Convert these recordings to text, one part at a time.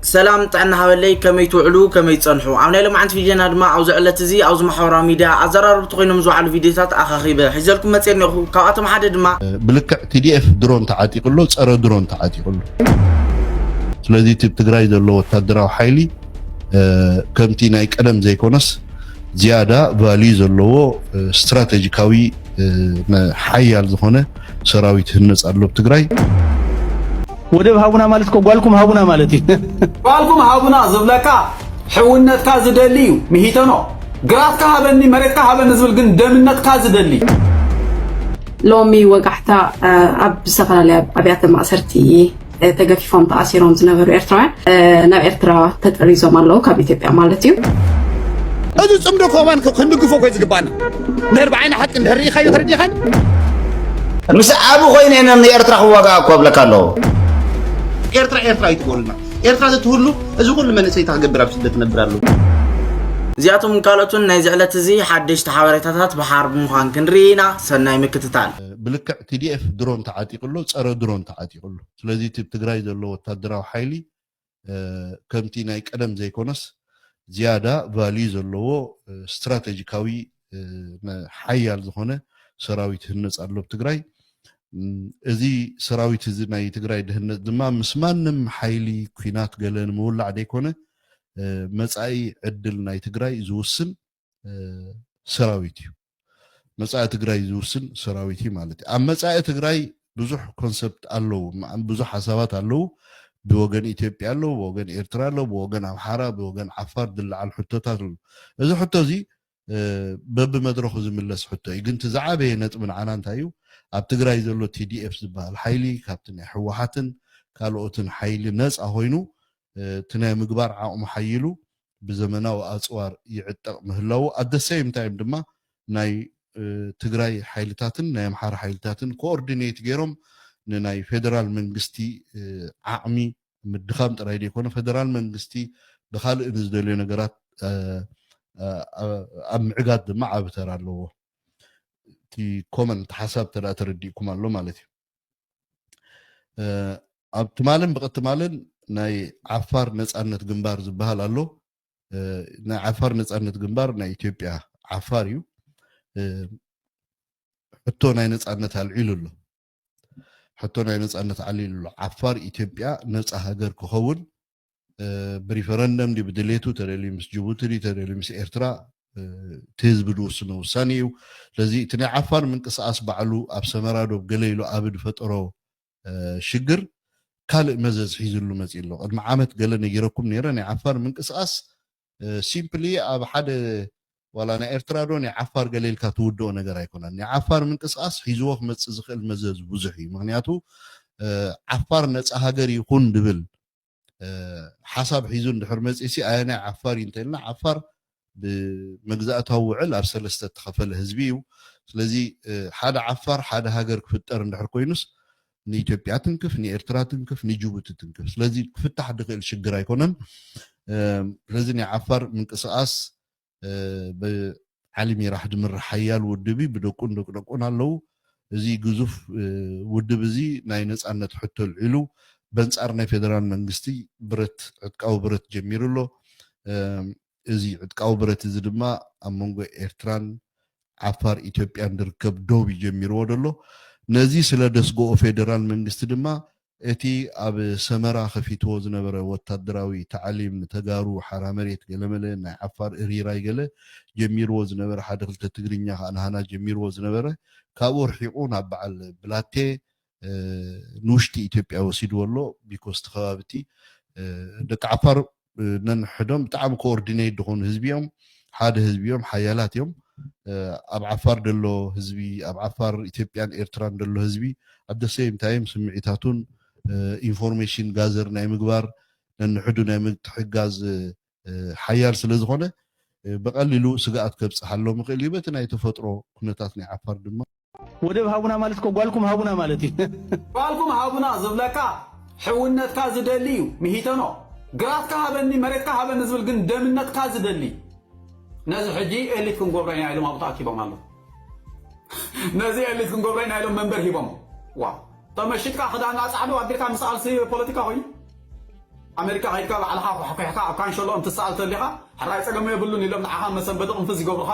ሰላም ጥዕና ሃበለይ ከመይ ትውዕሉ ከመይ ትጸንሑ ኣብ ናይ ሎማዓንቲ ቪድዮና ድማ ኣብዚ ዕለት እዚ ኣብዚ ማሕበራዊ ሚድያ ኣዘራረብቲ ኮይኖም ዝውዓሉ ቪድዮታት ኣኻኺበ ሒዘልኩም መጽየ እኔኹ ካብኣቶም ሓደ ድማ ብልክዕ ቲዲኤፍ ድሮን ተዓጢቁ ኣሎ ጸረ ድሮን ተዓጢቁ ኣሎ ስለዚ እቲ ኣብ ትግራይ ዘሎ ወታደራዊ ሓይሊ ከምቲ ናይ ቀደም ዘይኮነስ ዝያዳ ቫልዩ ዘለዎ ስትራተጂካዊ ሓያል ዝኾነ ሰራዊት ህነጽ ኣሎ ኣብ ትግራይ ወደብ ሃቡና ማለት እኮ ጓልኩም ሃቡና ማለት እዩ። ጓልኩም ሃቡና ዝብለካ ሕውነትካ ዝደሊ እዩ። ምሂተኖ ግራትካ ሃበኒ መሬትካ ሃበኒ ዝብል ግን ደምነትካ ዝደሊ ሎሚ ወጋሕታ ኣብ ዝተፈላለያ ኣብያተ ማእሰርቲ ተገፊፎም ተኣሲሮም ዝነበሩ ኤርትራውያን ናብ ኤርትራ ተጠሪዞም ኣለዉ ካብ ኢትዮጵያ ማለት እዩ እዚ ፅምዶ ኮማን ክንድግፎ ኮይ ዝግባና ድሕር ብዓይኒ ሓቂ እንድሕር ርኢኻዮ ተረዲኻኒ ምስ ዓብ ኮይነ ነ ንኤርትራ ክዋጋእ እኮ ኣብለካ ኣለዎ ኤርትራ ኤርትራ ይትበሉና ኤርትራ ዘትህሉ እዚ ኩሉ መንእሰይ ታክገብር ኣብ ስደት ነብር ኣለዎ እዚኣቶም ካልኦትን ናይዚ ዕለት እዚ ሓደሽቲ ሓበሬታታት ብሓር ብምዃን ክንርኢ ኢና ሰናይ ምክትታል ብልክዕ TDF ድሮን ተዓጢቁ ኣሎ ጸረ ድሮን ተዓጢቁ ኣሎ ስለዚ እቲ ኣብ ትግራይ ዘሎ ወታደራዊ ሓይሊ ከምቲ ናይ ቀደም ዘይኮነስ ዝያዳ ቫልዩ ዘለዎ ስትራተጂካዊ ሓያል ዝኾነ ሰራዊት ህነፅ ኣሎ ኣብ ትግራይ እዚ ሰራዊት እዚ ናይ ትግራይ ድህነት ድማ ምስ ማንም ሓይሊ ኩናት ገለ ንምውላዕ ዘይኮነ መጻኢ ዕድል ናይ ትግራይ ዝውስን ሰራዊት እዩ መፃኢ ትግራይ ዝውስን ሰራዊት እዩ ማለት እዩ ኣብ መፃኢ ትግራይ ብዙሕ ኮንሰፕት ኣለዉ ብዙሕ ሓሳባት ኣለዉ ብወገን ኢትዮጵያ ኣለዉ ብወገን ኤርትራ ኣለዉ ብወገን ኣምሓራ ብወገን ዓፋር ዝለዓል ሕቶታት ኣለዉ እዚ ሕቶ እዚ በብመድረኹ ዝምለስ ሕቶ እዩ ግን እቲ ዝዓበየ ነጥቢ ንዓና እንታይ እዩ ኣብ ትግራይ ዘሎ ቲዲኤፍ ዝበሃል ሓይሊ ካብቲ ናይ ሕወሓትን ካልኦትን ሓይሊ ነፃ ኮይኑ እቲ ናይ ምግባር ዓቕሙ ሓይሉ ብዘመናዊ ኣፅዋር ይዕጠቕ ምህላዉ ኣት ዘ ሰይም ታይም ድማ ናይ ትግራይ ሓይልታትን ናይ ኣምሓራ ሓይልታትን ኮኦርዲኔት ገይሮም ንናይ ፌደራል መንግስቲ ዓቕሚ ምድኻም ጥራይ ዘይኮነ ፌደራል መንግስቲ ብኻልእ ንዝደልዮ ነገራት ኣብ ምዕጋት ድማ ዓቢ ተራ ኣለዎ። እቲ ኮመንት ሓሳብ እንተ ተረዲእኩም ኣሎ ማለት እዩ። ኣብ ትማልን ብቐትማልን ናይ ዓፋር ነፃነት ግንባር ዝበሃል ኣሎ ናይ ዓፋር ነፃነት ግንባር ናይ ኢትዮጵያ ዓፋር እዩ ሕቶ ናይ ነፃነት ኣልዒሉ ኣሎ ሕቶ ናይ ነፃነት ኣልዒሉ ኣሎ ዓፋር ኢትዮጵያ ነፃ ሃገር ክኸውን ብሪፈረንደም ድዩ ብድሌቱ ተደልዩ ምስ ጅቡቲ ድዩ ተደልዩ ምስ ኤርትራ እቲ ህዝቢ ዝውስኖ ውሳኔ እዩ ስለዚ እቲ ናይ ዓፋር ምንቅስቃስ ባዕሉ ኣብ ሰመራ ዶብ ገለ ኢሉ ኣብ ዝፈጠሮ ሽግር ካልእ መዘዝ ሒዝሉ መፂ ኣሎ ቅድሚ ዓመት ገለ ነጊረኩም ነይረ ናይ ዓፋር ምንቅስቃስ ሲምፕሊ ኣብ ሓደ ዋላ ናይ ኤርትራ ዶ ናይ ዓፋር ገለ ኢልካ ትውድኦ ነገር ኣይኮነን። ናይ ዓፋር ምንቅስቓስ ሒዝዎ ክመጽእ ዝኽእል መዘዝ ብዙሕ እዩ። ምኽንያቱ ዓፋር ነጻ ሃገር ይኹን ዝብል ሓሳብ ሒዙ እንድሕር መጺኡሲ ኣየናይ ዓፋር እዩ እንተኢልና ዓፋር ብመግዛእታዊ ውዕል ኣብ ሰለስተ እተኸፈለ ህዝቢ እዩ። ስለዚ ሓደ ዓፋር ሓደ ሃገር ክፍጠር እንድሕር ኮይኑስ ንኢትዮጵያ ትንክፍ ንኤርትራ ትንክፍ ንጅቡቲ ትንክፍ ስለዚ ክፍታሕ ድክእል ሽግር ኣይኮነን ስለዚ ናይ ዓፋር ምንቅስቃስ ብዓሊ ሚራሕ ድምራሕ ሓያል ውድብ እዩ ብደቁን ደቂ ደቁን ኣለው እዚ ግዙፍ ውድብ እዚ ናይ ነፃነት ሕቶ ኣልዒሉ በንፃር ናይ ፌደራል መንግስቲ ብረት ዕጥቃዊ ብረት ጀሚሩ ኣሎ እዚ ዕጥቃዊ ብረት እዚ ድማ ኣብ መንጎ ኤርትራን ዓፋር ኢትዮጵያን ዝርከብ ዶብ እዩ ጀሚርዎ ዘሎ። ነዚ ስለ ደስግኦ ፌደራል መንግስቲ ድማ እቲ ኣብ ሰመራ ከፊትዎ ዝነበረ ወታደራዊ ታዕሊም ንተጋሩ ሓራ መሬት ገለመለ ናይ ዓፋር እሪራይ ገለ ጀሚርዎ ዝነበረ ሓደ ክልተ ትግርኛ ከኣ ናሃና ጀሚርዎ ዝነበረ ካብኡ ኣርሒቁ ናብ በዓል ብላቴ ንውሽጢ ኢትዮጵያ ወሲድዎ ኣሎ ቢኮዝ እቲ ከባቢ እቲ ደቂ ዓፋር ነንሕዶም ብጣዕሚ ኮኦርዲነይት ዝኾኑ ህዝቢ እዮም ሓደ ህዝቢ እዮም ሓያላት እዮም ኣብ ዓፋር ደሎ ህዝቢ ኣብ ዓፋር ኢትዮጵያን ኤርትራን ደሎ ህዝቢ ኣብ ደሰይም ታይም ስምዒታቱን ኢንፎርሜሽን ጋዘር ናይ ምግባር ነንሕዱ ናይ ምትሕጋዝ ሓያል ስለ ዝኾነ ብቐሊሉ ስግኣት ከብፅሓሎም ይኽእል እዩ በቲ ናይ ተፈጥሮ ኩነታት ናይ ዓፋር ድማ ወደብ ሃቡና ማለት እኮ ጓልኩም ሃቡና ማለት እዩ። ጓልኩም ሃቡና ዝብለካ ሕውነትካ ዝደሊ እዩ። ምሂተኖ ግራትካ ሃበኒ መሬትካ ሃበኒ ዝብል ግን ደምነትካ ዝደሊ እዩ። ነዚ ሕጂ ኤሊት ክንጎብሮ ኢና ኢሎም ኣብኡ ተኣኪቦም ኣለዉ። ነዚ ኤሊት ክንጎብሮ ኢና ኢሎም መንበር ሂቦም ዋ ተመሽጥካ ክዳና ጻዕዱ ኣቢልካ ምስኣልሲ ፖለቲካ ኮይኑ ኣሜሪካ ከይድካ ባዕልኻ ኳሕኲሕካ ኣብ ካንሸሎኦም ትሰኣል ተሊኻ ሕራይ ጸገሙ የብሉን ኢሎም ንዓኻ መሰንበዲ ቅንፍዝ ይገብሩኻ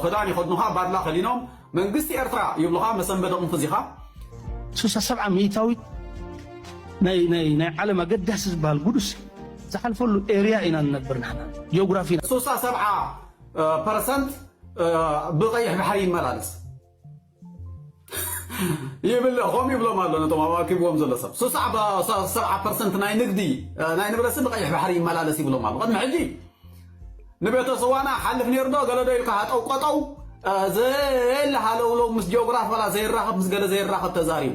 ክዳን ይኸድኑኻ ባድላ ከዲኖም መንግስቲ ኤርትራ ይብሉኻ መሰንበዲ ቅንፍዝ ኢኻ። ስሳ ሰብዓ ሚእታዊት ናይ ናይ ናይ ዓለም ኣገዳሲ ዝበሃል ጉዱስ ዝሓልፈሉ ኤርያ ኢና ንነብር ንሕና ጂኦግራፊ ስሳ ሰብዓ ፐርሰንት ብቀይሕ ባሕሪ ይመላለስ ይብል ኾም ይብሎም ኣሎ ነቶም ኣዋኪብዎም ዘሎ ሰብ ስሳዕ ሰብዓ ፐርሰንት ናይ ንግዲ ናይ ንብረሲ ንቀይሕ ባሕሪ ይመላለስ ይብሎም ኣሎ ቅድሚ ሕጂ ንቤተ ስዋና ሓልፍ ነይሩ ዶ ገለዶ ኢልካ ሃጠው ቆጠው ዘየለ ሃለውለው ምስ ጂኦግራፍ ዋላ ዘይራኸብ ምስ ገለ ዘይራኸብ ተዛሪቡ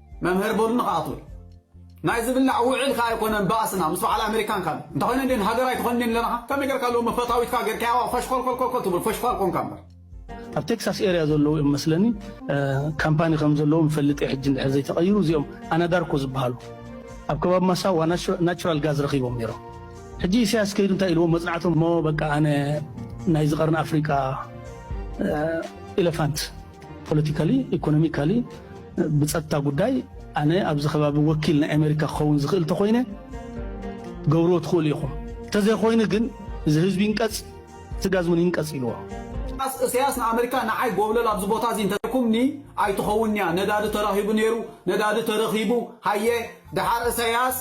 መምህር በሉ ንክኣትዉ እዩ ናይ ዝብላዕ ውዕል ከ ኣይኮነን ባእስና ምስ በዓል ኣሜሪካን ካል እንተኾይነ እንዴን ሃገር ኣይትኾን እንዴን ለናኻ ከመይ ጌርካ ሎሚ ፈታዊትካ ጌርካያዋ ፈሽኮልኮልኮልኮል ትብል ፈሽኳል ኮንካ እምበር ኣብ ቴክሳስ ኤርያ ዘለዉ እዮም መስለኒ ካምፓኒ ከም ዘለዎም ይፈልጥ ሕጂ እንድሕር ዘይተቐይሩ እዚኦም ኣናዳርኮ ዝበሃሉ ኣብ ከባቢ ማሳዋ ናቹራል ጋዝ ረኺቦም ነይሮም ሕጂ ኢሳያስ ከይዱ እንታይ ኢልዎም መፅናዕቶም ሞ በቃ ኣነ ናይ ዝቐርን ኣፍሪቃ ኢለፋንት ፖለቲካሊ ኢኮኖሚካሊ ብፀጥታ ጉዳይ ኣነ ኣብዚ ከባቢ ወኪል ናይ ኣሜሪካ ክኸውን ዝኽእል ተኾይነ ትገብርዎ ትኽእሉ ኢኹም እንተዘይኮይኑ ግን እዚ ህዝቢ ይንቀፅ ስጋዝ እውን ይንቀፅ ኢልዎ። ኢሳያስ እሰያስ ንኣመሪካ ንዓይ ጎብለል ኣብዚ ቦታ እዚ እንተዘይኩምኒ ኣይትኸውንያ ነዳዲ ተረኺቡ ነይሩ ነዳዲ ተረኺቡ ሃየ ደሓር እሰያስ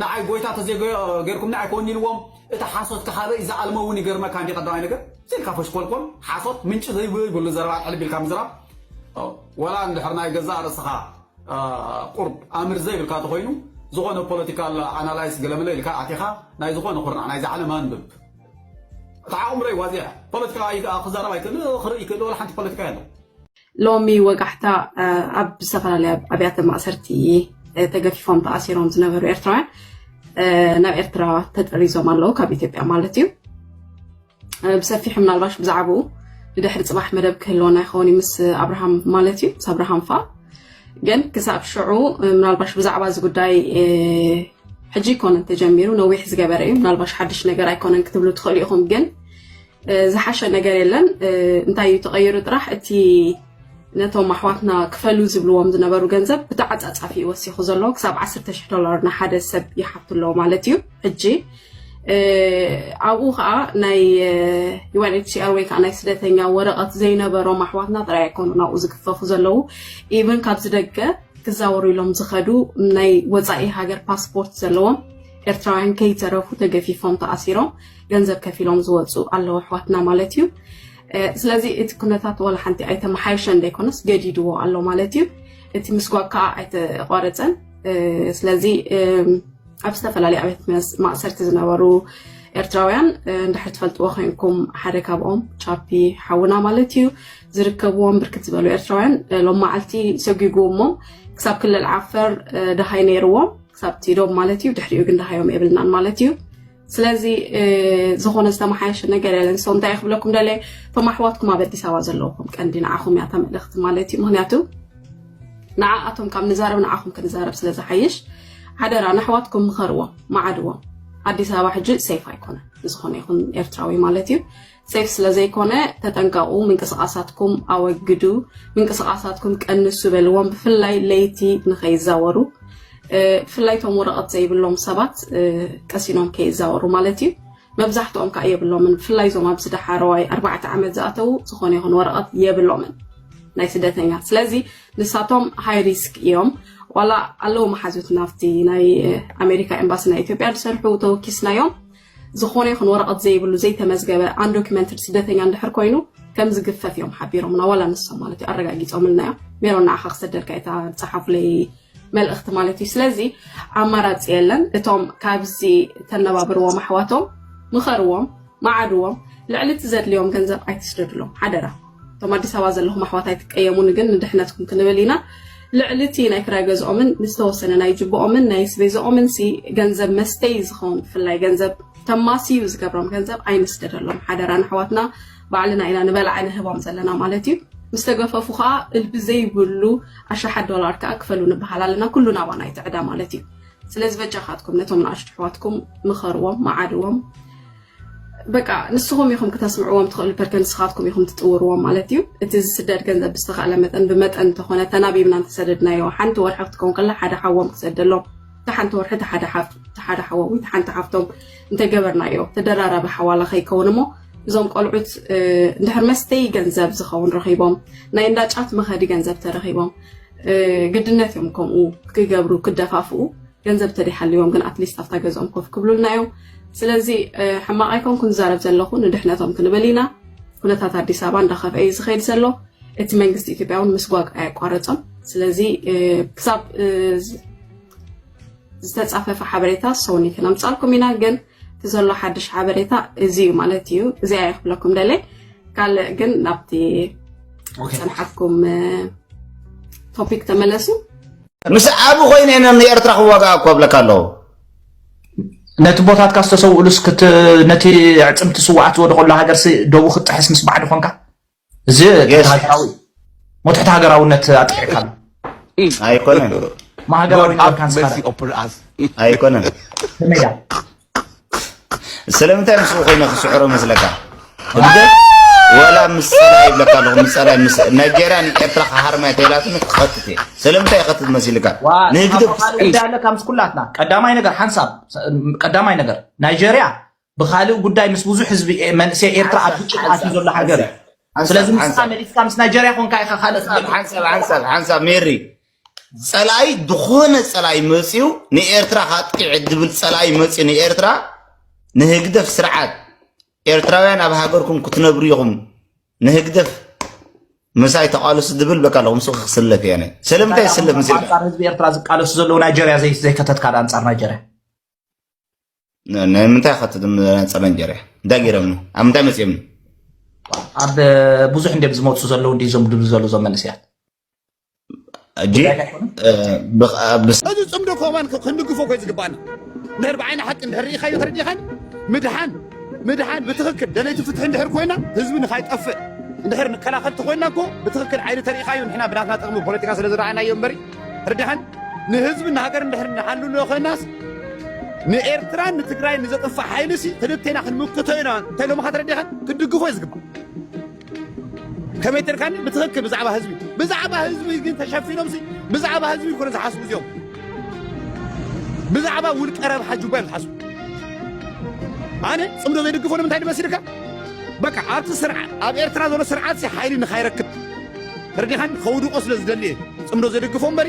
ንዓይ ጎይታ ተዘይገርኩምኒ ኣይከውንኒ ኢልዎም እቲ ሓሶት ካሓበይ ዝኣልመውን ይገርመካ እንዲ ቀዳማይ ነገር ኢልካ ፈሽኮልኮል ሓሶት ምንጪ ዘይብሉ ዘይብሉ ዘረባ ኣልሕልብ ኢልካ ምዝራብ ወላ እንድሕር ናይ ገዛእ ርእስኻ ቁርብ ኣምር ዘይብልካ ተኾይኑ ዝኾነ ፖለቲካል ኣናላይስ ገለመለ ኢልካ ኣቲኻ ናይ ዝኾነ ኩርናዕ ናይዚ ዓለም ኣንብብ እቲ ዓቕምረይ ዋዚያ ፖለቲካ ክዛረብ ኣይክእል ክርኢ ክእል ወላ ሓንቲ ፖለቲካ የለን ሎሚ ወጋሕታ ኣብ ዝተፈላለያ ኣብያተ ማእሰርቲ ተገፊፎም ተኣሲሮም ዝነበሩ ኤርትራውያን ናብ ኤርትራ ተጠሪዞም ኣለዉ ካብ ኢትዮጵያ ማለት እዩ ብሰፊሑ ምናልባሽ ብዛዕባኡ ንድሕሪ ፅባሕ መደብ ክህልወና ይኸውን ምስ ኣብርሃም ማለት እዩ ምስ ኣብርሃም ፋ ግን ክሳብ ሽዑ ምናልባሽ ብዛዕባ እዚ ጉዳይ ሕጂ ይኮነን ተጀሚሩ ነዊሕ ዝገበረ እዩ ምናልባሽ ሓድሽ ነገር ኣይኮነን ክትብሉ ትኽእሉ ኢኹም ግን ዝሓሸ ነገር የለን እንታይ እዩ ተቐይሩ ጥራሕ እቲ ነቶም ኣሕዋትና ክፈሉ ዝብልዎም ዝነበሩ ገንዘብ ብተዓፃፃፊ እዩ ወሲኹ ዘሎ ክሳብ 10 ሽሕ ዶላር ንሓደ ሰብ ይሓቱ ኣለዎ ማለት እዩ ሕጂ ኣብኡ ከዓ ናይ ዩኤንኤችሲኣር ወይ ከዓ ናይ ስደተኛ ወረቐት ዘይነበሮም ኣሕዋትና ጥራይ ኣይኮኑ ናብኡ ዝግፈፉ ዘለዉ ኢቨን ካብዚ ደገ ክዛወሩ ኢሎም ዝኸዱ ናይ ወፃኢ ሃገር ፓስፖርት ዘለዎም ኤርትራውያን ከይተረፉ ተገፊፎም ተኣሲሮም ገንዘብ ከፊሎም ዝወፁ ኣለዉ ኣሕዋትና ማለት እዩ ስለዚ እቲ ኩነታት ዋላ ሓንቲ ኣይተመሓየሸ ዘይኮነስ ገዲድዎ ኣሎ ማለት እዩ እቲ ምስጓግ ከዓ ኣይተቋረፀን ስለዚ ኣብ ዝተፈላለዩ ኣብት ማእሰርቲ ዝነበሩ ኤርትራውያን እንድሕር ትፈልጥዎ ኮይንኩም ሓደ ካብኦም ቻፒ ሓውና ማለት እዩ ዝርከብዎም ብርክት ዝበሉ ኤርትራውያን ሎም መዓልቲ ሰጒጉዎሞም ክሳብ ክልል ዓፈር ደሃይ ነይርዎም ክሳብ ቲዶም ማለት እዩ ድሕሪኡ ግን ደሃዮም የብልናን ማለት እዩ ስለዚ ዝኾነ ዝተመሓየሸ ነገር የለን ሰው እንታይ ክብለኩም ደለ እቶም ኣሕዋትኩም ኣብ ኣዲስ ኣበባ ዘለውኩም ቀንዲ ንዓኹም እያ ተመልእኽቲ ማለት እዩ ምክንያቱ ንዓኣቶም ካብ ንዛረብ ንዓኹም ክንዛረብ ስለ ዝሓይሽ ሓደራ ንኣሕዋትኩም ምኸርዎም መዓድዎም ኣዲስ ኣበባ ሕጂ ሰይፍ ኣይኮነ ንዝኾነ ይኹን ኤርትራዊ ማለት እዩ ሴፍ ስለ ዘይኮነ ተጠንቀቁ ምንቅስቃሳትኩም ኣወግዱ ምንቅስቃሳትኩም ቀንሱ በልዎም ብፍላይ ለይቲ ንከይዛወሩ ብፍላይ ቶም ወረቀት ዘይብሎም ሰባት ቀሲኖም ከይዛወሩ ማለት እዩ መብዛሕትኦም ከዓ የብሎምን ብፍላይ ዞም ኣብዚ ዳሓረዋይ ኣርባዕተ ዓመት ዝኣተዉ ዝኾነ ይኹን ወረቐት የብሎምን ናይ ስደተኛ ስለዚ ንሳቶም ሃይ ሪስክ እዮም ዋላ ኣለዉ መሓዙት ናብቲ ናይ ኣሜሪካ ኤምባሲ ናይ ኢትዮጵያ ዝሰርሑ ተወኪስናዮም ዝኾነ ይኹን ወረቐት ዘይብሉ ዘይተመዝገበ ኣንዶኪመንትድ ስደተኛ እንድሕር ኮይኑ ከም ዝግፈፍ እዮም ሓቢሮምና ዋላ ንሶም ማለት እዩ ኣረጋጊፆምልና እዮም ሜሮን ንዓኻ ክሰደልካ እታ ፀሓፉለይ መልእኽቲ ማለት እዩ ስለዚ ኣማራፂ የለን እቶም ካብዚ ተነባብርዎም ኣሕዋቶም ምኸርዎም መዓድዎም ልዕሊ እቲ ዘድልዮም ገንዘብ ኣይትስደድሎም ሓደራ እቶም ኣዲስ ኣበባ ዘለኹም ኣሕዋት ኣይትቀየሙኒ ግን ንድሕነትኩም ክንብል ኢና ልዕሊ እቲ ናይ ክራይ ገዝኦምን ንዝተወሰነ ናይ ጅብኦምን ናይ ስቤዝኦምን ሲ ገንዘብ መስተይ ዝኸውን ብፍላይ ገንዘብ ተማስዩ ዝገብሮም ገንዘብ ኣይንስደደሎም ሓደራ ንኣሕዋትና ባዕልና ኢና ንበላዕ ንህቦም ዘለና ማለት እዩ ምስ ተገፈፉ ከዓ እልቢ ዘይብሉ ኣሽሓት ዶላር ከዓ ክፈሉ ንበሃል ኣለና ኩሉ ናባና ይትዕዳ ማለት እዩ ስለዚ በጃኻትኩም ነቶም ንኣሽቱ ኣሕዋትኩም ምኸርዎም መዓድዎም በቃ ንስኹም ኢኹም ክተስምዕዎም ትኽእሉ ፐርከ ንስኻትኩም ኢኹም ትጥውርዎም ማለት እዩ እቲ ዝስደድ ገንዘብ ብዝተኻእለ መጠን ብመጠን እንተኾነ ተናቢብና እንተሰደድናዮ ሓንቲ ወርሒ ክትከውን ከላ ሓደ ሓዎም ክሰደሎም ተሓንቲ ወርሒ ተሓደ ሓዎም ወይ ተሓንቲ ሓፍቶም እንተገበርናዮ ተደራራቢ ሓዋላ ከይከውን እሞ እዞም ቆልዑት እንድሕር መስተይ ገንዘብ ዝኸውን ረኺቦም ናይ እንዳጫት መኸዲ ገንዘብ ተረኺቦም ግድነት እዮም ከምኡ ክገብሩ ክደፋፍኡ ገንዘብ ተደይሃልዎም ግን ኣትሊስት ኣብታ ገዝኦም ኮፍ ክብሉልና እዮም ስለዚ ሕማቕ ኣይኮንኩን ዝዛረብ ዘለኹ ንድሕነቶም ክንብል ኢና ኩነታት ኣዲስ ኣበባ እንዳኸፍአ እዩ ዝኸይድ ዘሎ እቲ መንግስቲ ኢትዮጵያ እውን ምስጓግ ኣየቋረፆም ስለዚ ክሳብ ዝተፃፈፈ ሓበሬታ ሰውኒ ክነምፃልኩም ኢና ግን እቲ ዘሎ ሓድሽ ሓበሬታ እዚ እዩ ማለት እዩ እዚኣ ይክብለኩም ደለይ ካልእ ግን ናብቲ ፀንሓትኩም ቶፒክ ተመለሱ ምስ ኣቢ ኮይነ ንኤርትራ ክዋጋኣ እኮ እብለካ ኣለኹ ነቲ ቦታትካ ዝተሰውእሉስ ነቲ ዕፅምቲ ስዋዓት ዝወደቀሉ ሃገርሲ ደቡ ክትጥሕስ ምስ ባዕዲ ኮንካ እዚ ሃገራዊ ሞት ትሕቲ ሃገራውነት ኣጥቂዕካ ኣሎ ኣይኮነን ማሃገራዊ ነበርካን ስካራ ኣይኮነን ከመይ ስለምንታይ ምስኡ ኮይነ ክስዕሮ መስለካ እንደ ወላ ምስ ፀላኢ ይብለካ ኣለኹ ምስ ፀላኢ ምስ ናይጀርያ ንኤርትራ ክሃርማይ ተይላትኒ ክኸትት እየ ስለምንታይ ይኸትት መሲልካ ንህግደፍ ኣለካ ምስ ኩላትና ቀዳማይ ነገር ሓንሳብ ቀዳማይ ነገር ናይጀርያ ብካልእ ጉዳይ ምስ ብዙሕ ህዝቢ መንእሰይ ኤርትራ ኣብ ግጭት ኣትዩ ዘሎ ሃገር እዩ ስለዚ ምስካ መሊስካ ምስ ናይጀርያ ኮንካ ኢኻ ካልእ ሓንሳብ ሓንሳብ ሓንሳብ ሜሪ ጸላኢ ዝኾነ ጸላኢ መጽዩ ንኤርትራ ካጥቂዕ ድብል ጸላኢ መጽዩ ንኤርትራ ንህግደፍ ስርዓት ኤርትራውያን ኣብ ሃገርኩም ክትነብሩ ኢኹም ንህግደፍ ምሳይ ተቃለሱ ድብል በቃ ኣለኹም ስኺ ክስለፍ እየ ስለምንታይ ይስለፍ ምስ ኣንጻር ህዝቢ ኤርትራ ዝቃለሱ ዘለዉ ናይጀርያ ዘይከተትካ ዳ ኣንጻር ናይጀርያ ናይ ምንታይ ከትት ኣንጻር ናይጀርያ እንታይ ገይሮምኒ ኣብ ምንታይ መጽዮምኒ ኣብ ብዙሕ እንዲም ዝመፁ ዘለዉ እንዲ ዞም ድብ ዘሉ ዞም መንእስያት እዚ ፅምዶ ኮባን ክንድግፎ ኮይ ዝግባኣና ድሕር ብዓይኒ ሓቂ እንድሕር ርኢኻዮ ተረዲእኻኒ ምድሓን ምድሓን ብትኽክል ደለይቲ ፍትሒ እንድሕር ኮይና ህዝቢ ንካይጠፍእ እንድሕር ንከላኸል ተኮይና እኮ ብትኽክል ዓይኒ ተርኢኻዮ ንሕና ብናትና ጥቕሚ ፖለቲካ ስለ ዝረኣናዮ እምበሪ ርድሓን ንህዝቢ ንሃገር እንድሕር ንሓልሎ ኮይናስ ንኤርትራን ንትግራይ ንዘጥፍእ ሓይሊ ሲ ክልቴና ክንምክቶ ኢና እንተኢሎምኻ ተረዲእኻን ክትድግፎ እዩ ዝግባእ ከመይ ተርካኒ ብትኽክል ብዛዕባ ህዝቢ ብዛዕባ ህዝቢ ግን ተሸፊኖም ብዛዕባ ህዝቢ ይኮነ ዝሓስቡ እዚኦም ብዛዕባ ውልቀ ረብሓ ጁባ እዮም ዝሓስቡ ኣነ ፅምዶ ዘይድግፎ ንምንታይ ድመስልካ በቃ ኣብቲ ስርዓት ኣብ ኤርትራ ዘሎ ስርዓት ሓይሊ ንካይረክብ ተረዲኻን ከውድቆ ስለ ዝደሊ እየ ፅምዶ ዘድግፎ እምበሪ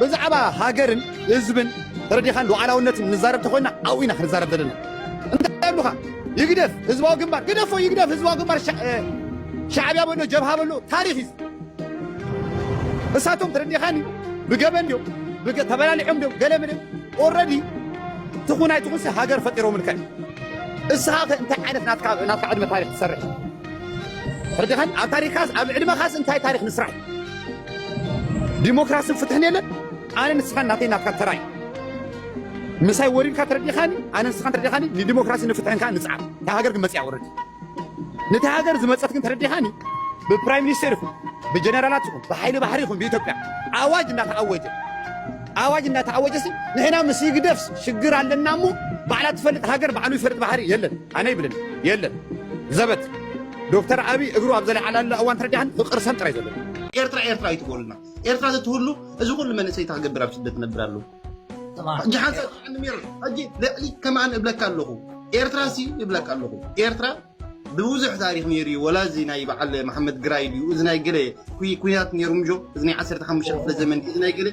ብዛዕባ ሃገርን ህዝብን ተረዲኻን ሉዓላውነትን ንዛረብ ተኾይና ኣብኡ ኢና ክንዛረብ ዘለና። እንታይ ኣብሉኻ ይግደፍ ህዝባዊ ግንባር ግደፎ ይግደፍ ህዝባዊ ግንባር ሻዕብያ በሎ ጀብሃ በሎ ታሪኽ እዩ። እሳቶም ተረዲኻኒ ብገበን ድዮም ተበላሊዖም ድዮም ገለ ምንም ኦልረዲ ትኹን ኣይትኹንሲ ሃገር ፈጢሮምልካ እዩ። እስኻ ከ እንታይ ዓይነት ናትካ ዕድመ ታሪክ ትሰርሕ ተረዲኻኒ ኣብ ታሪካስ ኣብ ዕድመኻስ እንታይ ታሪክ ንስራሕ ዲሞክራስን ፍትሕን የለን ኣነ ንስኻን ናተይ ናትካን ተራ እዩ ምሳይ ወሪድካ ተረዲኻኒ ኣነ ንስኻን ተረዲኻኒ ንዲሞክራሲ ንፍትሕን ከዓ ንፅዓር እታ ሃገር ግን መፅያ ወረድ ነቲ ሃገር ዝመፀት ግን ተረዲኻኒ ብፕራይም ሚኒስቴር ይኹን ብጀነራላት ይኹን ብሓይሊ ባሕሪ ይኹን ብኢትዮጵያ ኣዋጅ እናተኣወጀ ኣዋጅ እናተኣወጀ ሲ ንሕና ምስ ይግደፍስ ሽግር ኣለና እሞ ባዕላ ትፈልጥ ሃገር ባዕሉ ይፈልጥ ባሕሪ የለን ኣነ ይብልን የለን ዘበት ዶክተር ኣብይ እግሩ ኣብ ዘለዓላላ እዋን ተረዲኣን ፍቅር ሰም ጥራይ ዘሎ ኤርትራ ኤርትራ ይትበሉና ኤርትራ ዘትህሉ እዚ ኩሉ መንእሰይ ታክገብር ኣብ ስደት ነብር ኣለዉ ሕጂ ሓንሳብ ጥዕኒ ሜር ሕጂ ልዕሊ ከማን እብለካ ኣለኹ ኤርትራ ሲ እብለካ ኣለኹ ኤርትራ ብብዙሕ ታሪክ ነይሩ እዩ ወላ እዚ ናይ በዓል መሓመድ ግራይ ድዩ እዚ ናይ ገለ ኩናት ነይሩ ምጆ እዚ ናይ 15 ክፍለ ዘመን እዚ ናይ ገለ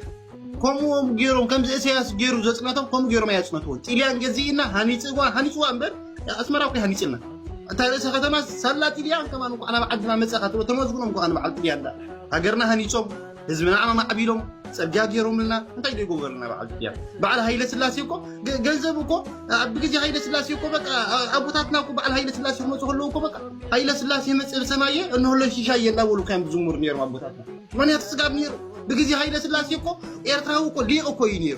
ከምኡ ገይሮም ከምዚ እሰያስ ገይሩ ዘፅነቶም ከምኡ ገይሮም ኣየፅነትዎን ጢልያን ገዚእና ሃኒፅዋ ሃኒፅዋ እምበር ኣስመራ እኮ ሃኒፅልና እታ ርእሰ ከተማ ሳላ ጢልያን ከማን እንኳዕ ናብ ዓድና መፀኻ ትብሎ ተመስግኖም እንኳዕ ንበዓል ጢልያን ዳ ሃገርና ሃኒፆም ህዝብና ኣማዕቢሎም ፀጋ ገይሮምልና እንታይ ዶ ይገብረልና በዓል ጢልያን በዓል ሃይለ ስላሴ እኮ ገ- ገንዘብ እኮ ኣብ ግዜ ሃይለ ስላሴ እኮ በቃ ኣ- ኣቦታትና እኮ በዓል ሃይለ ስላሴ ክመፁ ከለዉ እኮ በቃ ሃይለ ስላሴ መፅእ ሰማየ እንሆሎ ሽሻ የላ በሉ ከም ዝሙር ነይሮም ኣቦታት ምክንያቱ ስጋብ ኔሩ ብግዜ ሃይለስላሴ እኮ ኤርትራዊ እኮ ሊቅ እኮ እዩ ኔሩ።